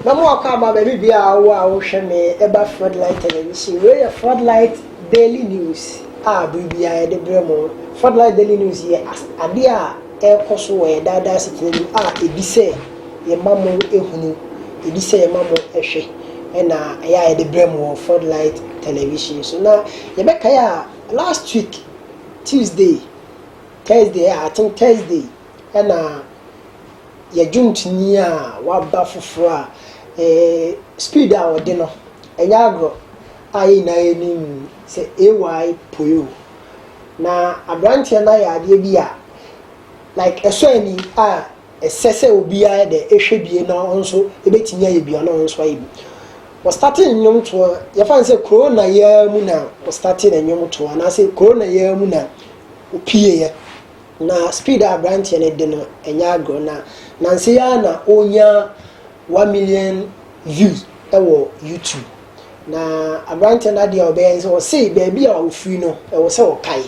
na mo akɔ ama baabi bia a wowɔ a wohwɛ me ɛba floodlight television wei yɛ floodlight daily news a bere biara yɛde brɛ mo floodlight daily news yɛ adeɛ a ɛrekɔ so wɔ yɛ daadaa asetena mu a ɛdi sɛ yɛma mo ɛhunu ɛdi sɛ yɛma mo ɛhwɛ ɛna ɛyɛ a yɛde brɛ mo wɔ floodlight television so na yɛbɛkae a Last week Tuesday, Thursday ɛ I think Thursday ɛna yɛ dwomtoni a waba foforɔ a eh, speed a ɔde no ɛnyɛ agorɔ a yɛ nyinaa yɛnim sɛ AY Poyo na aberanteɛ no ayɛ adeɛ bi a like ɛsɔ ani a Ɛsɛ sɛ obiara yɛ dɛ hwɛ bie na ɔno nso ebetumi ayɛ bi ana ɔno nso ayɛ bi. Wɔstate nnwomtoɔ, yɛfa no sɛ korona yi ara mu na wɔstate no nnwomtoɔ anaasɛ korona yi ara mu na opieeɛ. Na speed a aberanteɛ no de no ɛnyɛ agorɔ na nanse yi ara na ɔnya one million views wɔ YouTube na aberanteɛ no adeɛ a ɔbɛyɛ ne sɛ ɔse baabi a ɔfiri no ɛwɔ sɛ ɔkae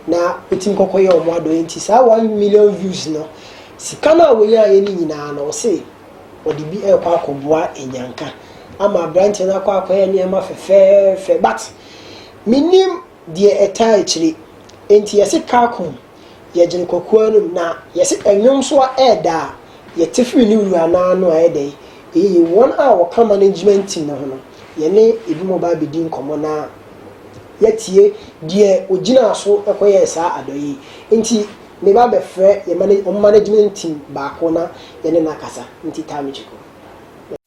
na ɔtumi kɔkɔ yɛ ɔmo adɔyɛ nti saa one million views no sika no a wɔnyaeɛ no nyinaa no ɔse ɔde bi ɛkɔ akɔboa anyanka ama aberanteɛ no akɔ akɔyɛ nneɛma fɛfɛɛfɛ but menim deɛ ɛtaa akyire nti yɛse car kum yɛgyene kokoa no mu na yɛse ɛnwom so a ɛɛda a yɛte firi ne wura no ara no a ɛyɛ dɛn yɛyi wɔn a wɔka management team no ho no yɛne ebinom ba abɛdi nkɔmmɔ na yɛatie deɛ ɔgyinaa so kɔyɛɛ saa adɔyɛ yi nti meba bɛfrɛ yɛ management team baako na yɛne no akasa nti taa mekyiko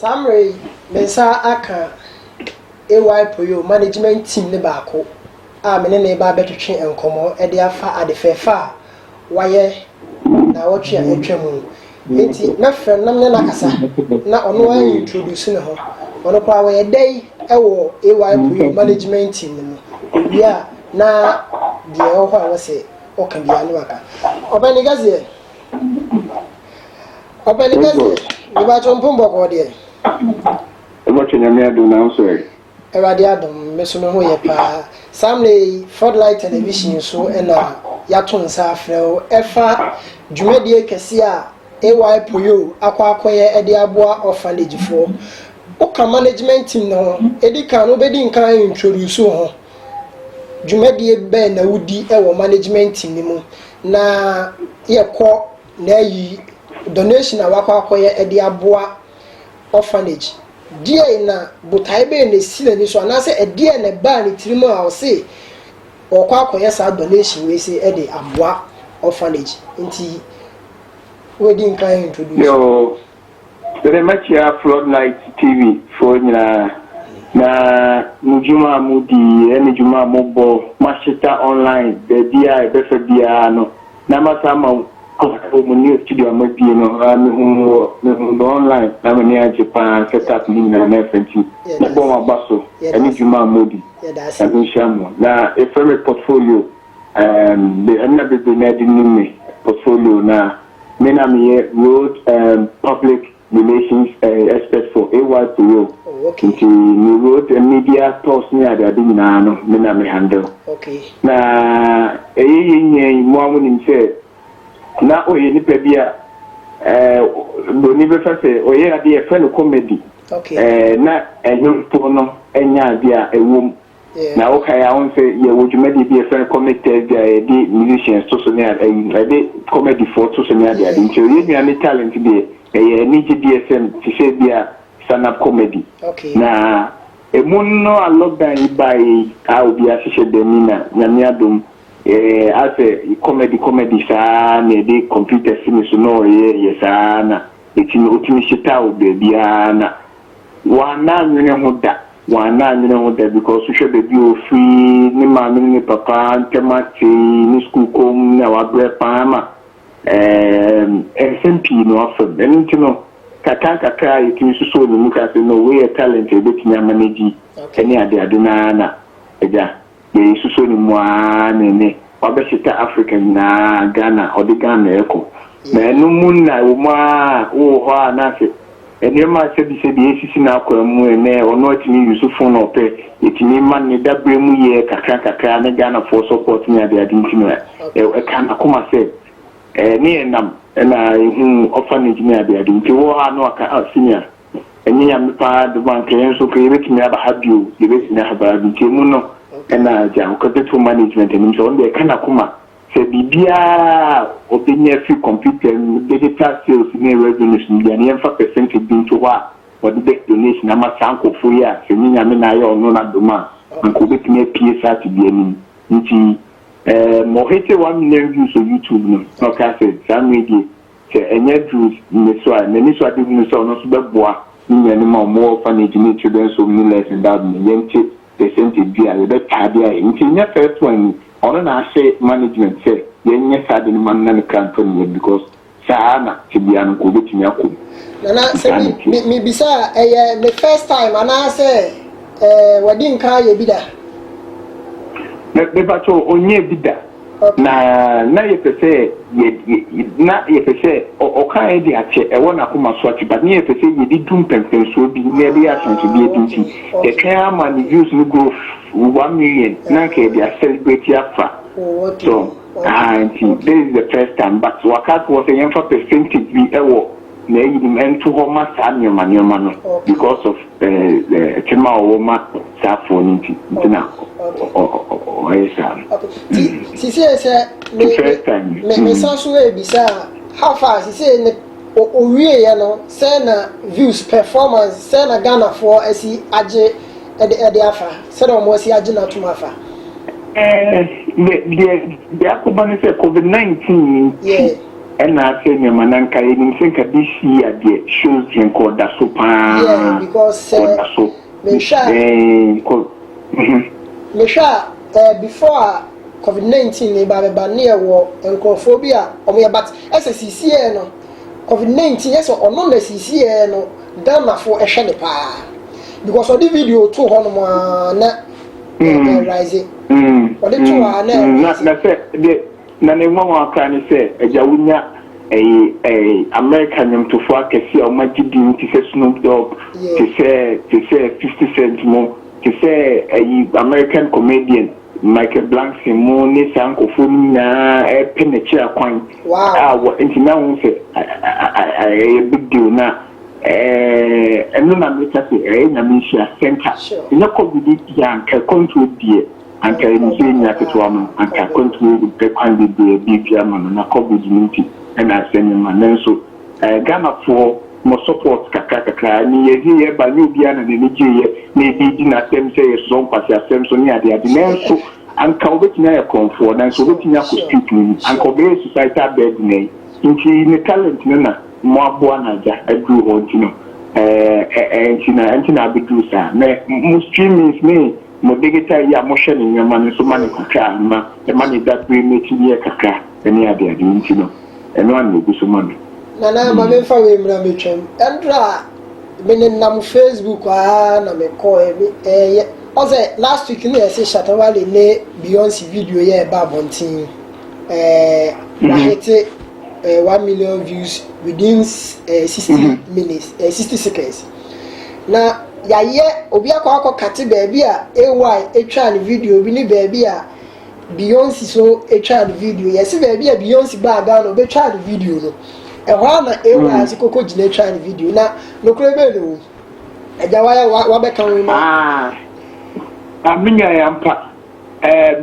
saa mmerɛ yi me nsa aka ay poyo management team ne baako a me ne ne ba bɛtwetwe nkɔmmɔ de afa ade fɛɛfɛ a wayɛ naawɔtwe a atwa mu no. Enti mɛfrɛ no na me ne no akasa na ɔno a introduce ne ho. Ɔno koraa wɔyɛ dɛ yi wɔ AY Puyo management team no mu. Owie a na deɛ ɛwɔ hɔ a wɔsɛ ɔka biara no waka. Ɔpɛni kɛseɛ. Ɔpɛni kɛseɛ. Mebɛkyɛ mpom bɔkɔɔ deɛ. Wobɛtwe nyame adom nanso ɛ. Awurade adom me so me ho yɛ paa. Saa mmerɛ yi Floodlight Television so na yɛato nsa afrɛ wo ɛfa dwumadie kɛseɛ a AY Poyo akɔ akɔyɛ de aboa orphanage foɔ. Woka management team no ho, ɛdi kan no wobɛdi nkan introduce wo ho, dwumadie bɛn na wodi wɔ management team no mu na yɛkɔ na ayi donation a wakɔ akɔyɛ de aboa orphanage. Deɛn na botaeɛ bɛn na ɛsi n'ani so anaasɛ ɛdeɛn na ɛbaa ne tirim a ɔse ɔkɔ akɔyɛ saa donation wei se ɛde aboa orphanage nti wɔadi nkan introduce. Yoo, mede mɛkyea Floodlight TV foɔ nyinaa na mo dwuma a modi ɛne dwuma a mobɔ mahyeta online baabiara a ɛbɛfa biara no. Na masa ama wo kɔfoɔ mu ne studio ama bie no aa mehu wɔ mehu no online na mani agye paa set up ne nyinaa na ɛfɛ nti mo bɔ mo aba so ɛne dwuma a modi nyame nhyira mo na yɛfrɛ me portfolio um be ɛna bebree na ɛde nim me portfolio na me na meyɛ road um public the nation's eh, expert for AY Puyo. Oh, okay. Nti me road and media talks ne ade ade nyinaa no me na me handle. Okay. Na ɛyɛ yɛ nyɛ yi mo amu nim sɛ na ɔyɛ nipa bi a eh, broni bɛfa sɛ ɔyɛ ade yɛfrɛ no comedy. Okay. Eh, na ɛnyɛ mpo no ɛnyɛ ade a ɛwom Na wokan a wohu sɛ yɛwɔ dwumadie bi a yɛfrɛ no comic Thursday a yɛde musicians to so ne ade ayi yɛde comedifoɔ to so ne ade ade nti yɛn nua ne talent deɛ ɛyɛ anigye deɛ sɛm te sɛ bi a stand up comedy na ɛmu no a lockdown yi baeɛ yi a obi ahyehyɛ dɛm yi na nyame adom ɛɛ asɛ comedy comedy saa na yɛde computer si ne so na ɔyɛ yɛ saa na ɛtumi ɔtumi hyeta wo baabiara na Wanna nwene ho da, wanna nwene ho da because wohwɛ baabi a ɔfiri, ne maame ne ne papa ntɛm ate, ne sukuu kɔ mu, na wabrɛ paa ma ɛɛm nsɛm pii na wafa mu. Ɛno nti no kakra nkakra a yɛtumi susoo ne mu ka sɛ no wei yɛ talent a yɛbɛtumi amanage ne adeade no ara na agya. Deɛ yɛsusɔ ne mu ara ne ɛnnɛ wabɛhyeta Africa nyinaa, Ghana, ɔde Ghana rekɔ. Na ɛno mu nna ɛwɔ mu ara a wowɔ hɔ a na sɛ nneɛma sɛbisɛbi resisi n'akwan mu ɛnnɛ ɔno atumi use phone a ɔpɛ, yɛtumi ma no ne daberɛ mu yɛ kakra kakra ne Ghanafoɔ support ne adeade nti na ɛka n'akoma sɛ ne yɛn nam na yɛhuu orphanage ne adeade. Nti wowɔ hɔ a na waka, ah Senior. Ɛnyɛ Nyame paa dom a nka yɛnso nka yɛbɛtumi aba ha bio, yɛbɛsi no ahabaa bi. Nti ɛmu no na gya Ɔkɛtɛfo Management anim sɛ ɔno deɛ ɛka n'akoma sɛ biribiara a ɔbɛnya firi computer mu, digital sales ne revenues mu biara no yɛmfa percentage bi nto hɔ a ɔde bɛyɛ donation ama saa nkorɔfoɔ yi a sɛ ɛnyɛ Nyame na ayɛ ɔno na dom a anka ɔbɛtumi apue saa tebea no mu. Nti ɛɛm ɔhete one million views wɔ YouTube no na ɔkaa sɛ saa mmerɛ yi deɛ Sɛ ɛnyɛ Drews nniso a, m'anisoadehu ne sɛ ɔno nso bɛboa ne nuanom a wɔwɔ orphanage ne Children's Home ne Less Endowed ma yɛnte percentage bi a yɛbɛtaa de ayɛ. Nti nyɛ first one ni, ɔno na ahyɛ management sɛ yɛnyɛ saa ade no mma no na ne kra ntɔ ne yam because saa ara na tebea no nka ɔbɛtumi akɔ mu. Nana, sɛ Saa na ɛteɛ. me, mebisa a, ɛyɛ ne first time anaasɛ eh, wadi nkan ayɛ bi da? Me, mepatwo ɔnyɛɛ bi da. Na na yɛpɛ sɛ yɛ na yɛpɛ sɛ ɔkaeɛ de akyɛ ɛwɔ n'akoma so ate but ne yɛpɛ sɛ yɛde du mpɛnpɛnsoɔ bi na yɛde yɛ ahyɛnsodeɛ bi nti yɛtwɛn ara ma ne views no grow one million na anka yɛde acelebrate afa so aha nti this is the first time but waka ato hɔ sɛ yɛmfa percentage bi ɛwɔ na ayi no nto hɔ ma saa nneɛma nneɛma no because of ɛkyɛm a ɔwɔ ma saa afoɔ no nti nti na ɔyɛ saa no. Ti ti sɛ sɛ me me me san so ebisa how far sɛ ne owie yɛ no sɛ na views performance sɛ na Ghana foɔ asi agye ɛde ɛde afa sɛ na wɔn asi agye n'atum afa. Ɛɛ deɛ deɛ akɔba ne sɛ COVID-19 nti. Ɛna asɛ nneɛma na nka yɛnim sɛ nka this year deɛ shows deɛ nka ɔda so paa Yeah because sɛ ɔda so mehwɛ a Eeii kɔ mhm. mehwɛ a ɛɛ before a covid nineteen reba abɛba ne yɛwɔ nkorɔfoɔ bi a wɔn yɛ but ɛsɛ sisiiɛ no covid nineteen ɛsɛ ɔno na sisiiɛ no Ghanafoɔ ɛhwɛ ne paa because ɔde video to hɔ nom aa na ɛ Mm, ɛrise mm, ɔde to hɔ mm, aa na mm. Na ɛrise. na sɛ deɛ Na ne nwanwa koraa ne sɛ, agya wonya ɛyi ɛyi America nwomtofoɔ akɛseɛ a wɔagye din te sɛ Snoop Dogg, te sɛ te sɛ Fifty Cent mo, te sɛ ɛyi American comedian Michael Blankson mo ne saa nkorɔfoɔ no nyinaa ɛrepɛ n'akyiri akwan a wɔ nti na wohu sɛ ɛyɛ big deal na ɛno na meka sɛ ɛyɛ Nyame nhyira sɛ nka ɛnyɛ covid nti a nka ɛkwantuo deɛ Anka yɛ ne sɛ nua ketewa no, anka akwantuo yi de kwan bebree bi bi ama no na covid no nti na asɛm yi ma. Nanso Ghanafoɔ mo support kakra kakra ne yɛ de yɛ ba, nyɛ obiara na n'ani gye yɛ na yɛ de di n'asɛm sɛ yɛ sɔ nkwaseasɛm so ne ade ade. Nanso anka ɔbɛtumi ayɛ korɔmfoɔ, nanso ɔbɛtumi akɔ street no mu, anka ɔbɛyɛ societal burden. Nti ne talent no na mo aboa no agya aduru hɔ nti no, ɛɛ ɛɛ nti na ɛnti na abɛduru saa. Nɛ mo streamings ne. Mo digital yi a mohwɛ ne nneɛma no nso ma no kakra a ma ɛma ne dabere no tumi yɛ kakra ne adeade nti no, ɛno ara na ɛgu so ma me. Nana, ma memfa wei mmra mɛtwam. Ɛnora, me nenam Facebook ara na mekɔɔɛ, me, ɛɛyɛ, woahu sɛ last week na yɛse Shatta Wale ne Beyonce video yi a ɛba abɔnten yi, ɛɛ, wahete ɛɛ one million views within ɛɛ sixty minutes, ɛɛ sixty seconds. Na yɛayɛ obi akɔ akɔkate baabi a AY twaa ne video bi ne baabi a Beyonce so twaa ne video. Yɛse baabi a Beyonce baa Ghana ɔbɛtwaa ne video no, ɛhɔ a na AY hmm. ase koko gyina twaa ne video. Na nokorɛ bɛɛ na ɛwɔ mu. Agya wayɛ wabɛka ho ma. Ah, amenya yɛ ampa.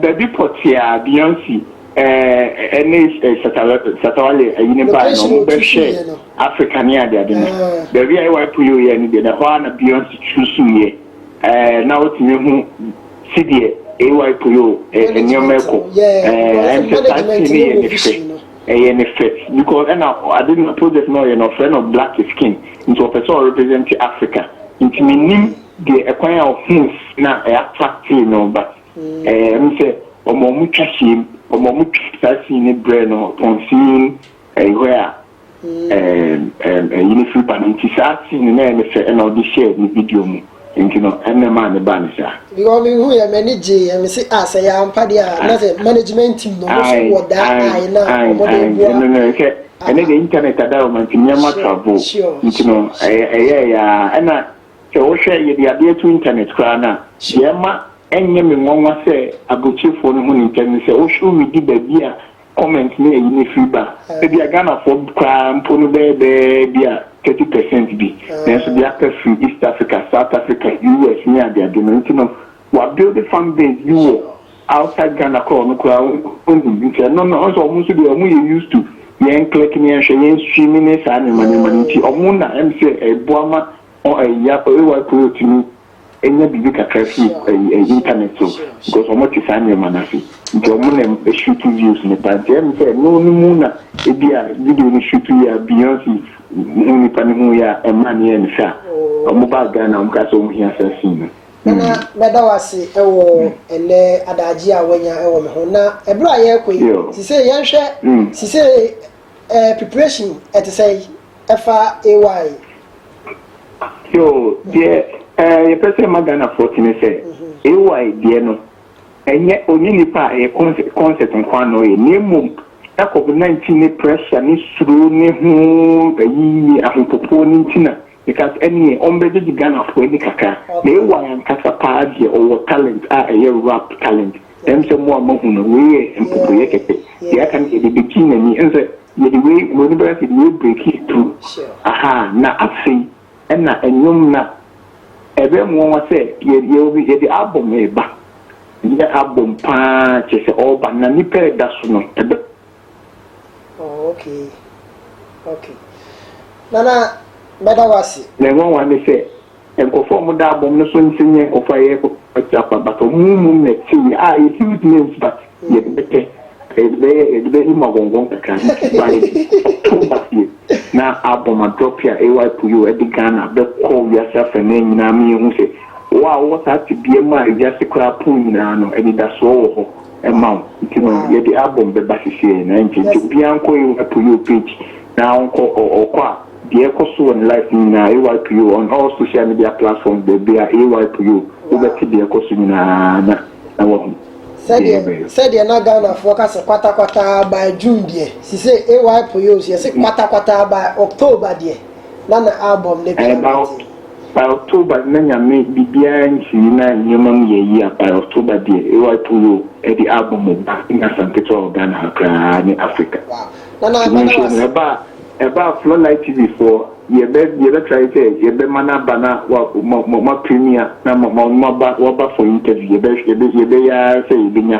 Baabi pɔtee a Beyonce ne Shatta Wale yerenom baeɛ no, wɔbɛhwɛɛ Africa ne adeade no, baabi a AY Puyo yɛɛ no deɛ, na ɛhɔ ara na Beyonce tu suiɛ. Na wotumi hu sɛdeɛ AY Puyo nneɛma rekɔ. Ɛyɛ me sɛ saa scene no yɛ ne fɛ, ɛyɛ ne fɛ because ɛna ade no project no a ɔyɛ no, wɔfrɛ no Black is King, nti ɔpɛ sɛ ɔrepresent Africa, nti mennim. de ɛkwan a ɔhuu na attractee no ba. Ɛm sɛ ɔma ɔmo twa hyiam, ɔma ɔmo twa saa scene no brɛ no upon seeing where a ɛyi no firi ba no nti saa scene no na ɛyɛ no fɛ ɛna ɔde hyɛɛ ne video mu nti no ɛna ɛmaa no baa no saa. Because me hu yɛ m'ani gyee yɛ me se ah sɛ ɛyɛ ampa deɛ a na sɛ management team no ɔmo nso wɔ daa eye na ɔmo de boa. Ɛno no sɛ ɛne deɛ internet ada hɔ ma nti nneɛma travel nti no ɛyɛɛyɛ a ɛna Sɛ wohwɛ yɛde adeɛ to internet koraa no a, deɛ ɛma ɛnyɛ me nwanwa sɛ aburokyefoɔ no ho nimtɛ ne sɛ wohwɛ wo midi baabi a comment ne ayi no firi ba a, ebi a Ghanafoɔ koraa mpo no bɛyɛ bɛɛ bi a thirty percent bi, nanso deɛ aka firi East Africa, South Africa, US ne adeade no nti no. wa build fan base bi wɔ outside Ghana koraa ɔno koraa ohu nti ɛno no ɔsɛ ɔmo nso deɛ ɔmo yɛ used to yɛn click ne yɛn hwɛ yɛn stream ne saa nneɛma nneɛma no nti ɔmo na ɛm sɛ ɛboa ma ɔ ɛyi AY Koyo tumi enya biribi kakra fi ɛyi ɛyi internet so because ɔmo te saa nneɛma no ase nti ɔmo na ɛm shoot views ne paa nti ɛm sɛ no no mu na ebi a video no shoot yɛ a Beyonce ho nipa no ho yɛ a ɛmaa ne yɛ ne sɛ a ɔmo baa Ghana ɔmo kaa sɛ ɔmo hia saa scene no. Nana, mɛda wo ase wɔ ɛnɛ adagye a wanya wɔ me ho. Na ɛberɛ a yɛrekɔ yi, sisei yɛnhwɛ sisei eh, preparation ɛte sɛ ɛfa AY. Yo, deɛ eh, yɛpɛ sɛ ma Ghanafoɔ te ne sɛ mhm. AY deɛ no ɛnyɛ ɔnyɛ nipa a ɛyɛ concert concert nkoa na ɔyɛ na mmom na covid 19 ne pressure ne suro ne ho ayi ne ahopopoɔ ne nti na Because ɛneɛ ɔmbɛgyegye Ghanafoɔ ani kakra. Na AY ankasa paa deɛ ɔwɔ talent a ɛyɛ rap talent. Ɛm sɛ mo a moahu no, wei yɛ mpopoyɛ kɛkɛ. Deɛ aka no yɛde bɛkyi n'ani. Ɛm sɛ yɛde wei, wɔn ani bɛka sɛ yɛde wei breakii through. Ahaa, na afei ɛna nnwom na ɛbɛyɛ mo nwanwa sɛ yɛde yɛde album reba. Ɛnyɛ album paa kyerɛ sɛ ɔreba na nnipa reda so no. Ɛbɛ. Oh okay okay Nana mɛda wo ase. Nea nwanwa ne sɛ nkurɔfo a wɔda abom no so nse nyɛ nkurɔfo a yɛyɛ popular tia kwa but wɔn mu nnɛte yi a yɛ huge names but yɛde bɛpɛ yɛde bɛyɛ yɛde bɛyɛ mu agɔngɔn kakra nti by October deɛ na album a drop a AY Puyo ɛde Ghana bɛkɔ wiase afanan nyinaa ma yɛhu sɛ wo a wowɔ saa tebea mu a wiase koraa pon nyinaa no anidasoɔ wɔ hɔ. ma wo nti no yɛde album bɛba sisi yɛ na ɛnkyɛ nti obiara nkɔ AYPO page na ɔnkɔ ɔkɔ a deɛ ɛkɔ so wɔ ne life no nyinaa AYPO on all social media platforms baabi a AYPO wobɛte deɛ ɛkɔ so nyinaa na na wahu sɛdeɛ na ghanafoɔ ka sɛ kwatakwataa by june deɛ sisɛ AYPO yɛ sɛ kwatakwataa by october deɛ na na album no pia By October na Nyame biribiara nsii na nneɛma mu yɛ yie a by October deɛ AY Puro de album ba ɛnyɛ asa nketewa wɔ Ghana ha koraa ne Africa. Nti monhwɛ no ɛbaa ɛbaa Flo Light TV foɔ yɛbɛ yɛbɛ try sɛ yɛbɛ ma no aba na wa mo mo mo a premier na mo mo mo aba waba for interview yɛbɛ yɛbɛ yɛbɛ yɛ ara sɛ yɛbɛ nya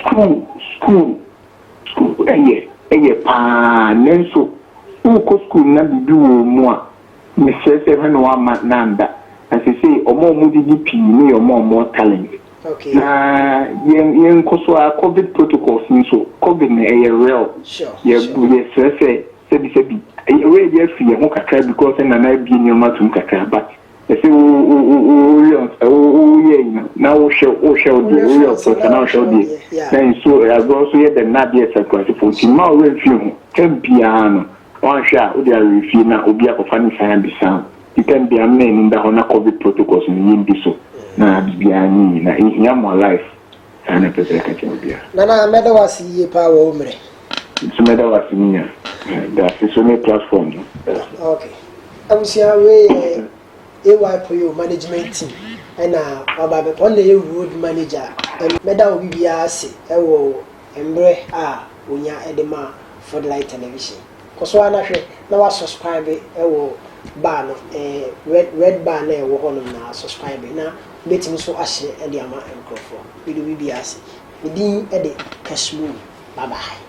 School school school ɛyɛ ɛyɛ paa nanso wokɔ school no na biribi wɔ wɔn mu a mesrɛ sɛ hwɛ na woamma no anda na seesei wɔn a wɔgyegye pii no yɛ wɔn a wɔwɔ talent na yɛn yɛnkɔ so ara covid protocols no so covid no ɛyɛ real yɛ yɛsrɛ sɛ sɛbi sɛbi yɛwerɛ yɛ afiri yɛn ho kakra because ɛna no abue nneɛma atom kakra but Ese wo wo wo wo wo yɛ ɔt wo wo wo yɛ enyi na wo hwɛ wo hwɛ wo deɛ wo yɛ ɔt ɔt na wo hwɛ wo deɛ na nsuo agorɔ so yɛ dɛm na adeɛ ɛsɛ akurase fo nti mma wo wura nfie ho tɛm biara no wanhwɛ a wo de awerɛ fie na obi akɔfa ne san abisa wo nti tɛm biara mma anim da hɔ na covid protocols no yɛ ndi so na biribiara nyɛ yie na ehia mo alive Saa na ɛpɛ sɛ ɛka kyerɛ ɔbea. Nana, mɛda wo ase yiye paa wɔ wo mmerɛ. Me nso mɛda wo ase menya daase so ne platform no. Ok. Abusua, wei yɛ AY Poyo management team ɛna waba abɛ, wɔn na ɛyɛ road manager a. Mɛda obi biara ase wɔ mmerɛ a wɔnya de ma Ford Light Television. Kɔ so ara na hwɛ na wa subscribe wɔ bar no eh, red red bar na ɛwɔ hɔ nom na subscribe na wobɛtumi nso ahyɛ de ama nkorɔfoɔ. Mede obi biara ase. Me din de Kashmiri. Bye bye.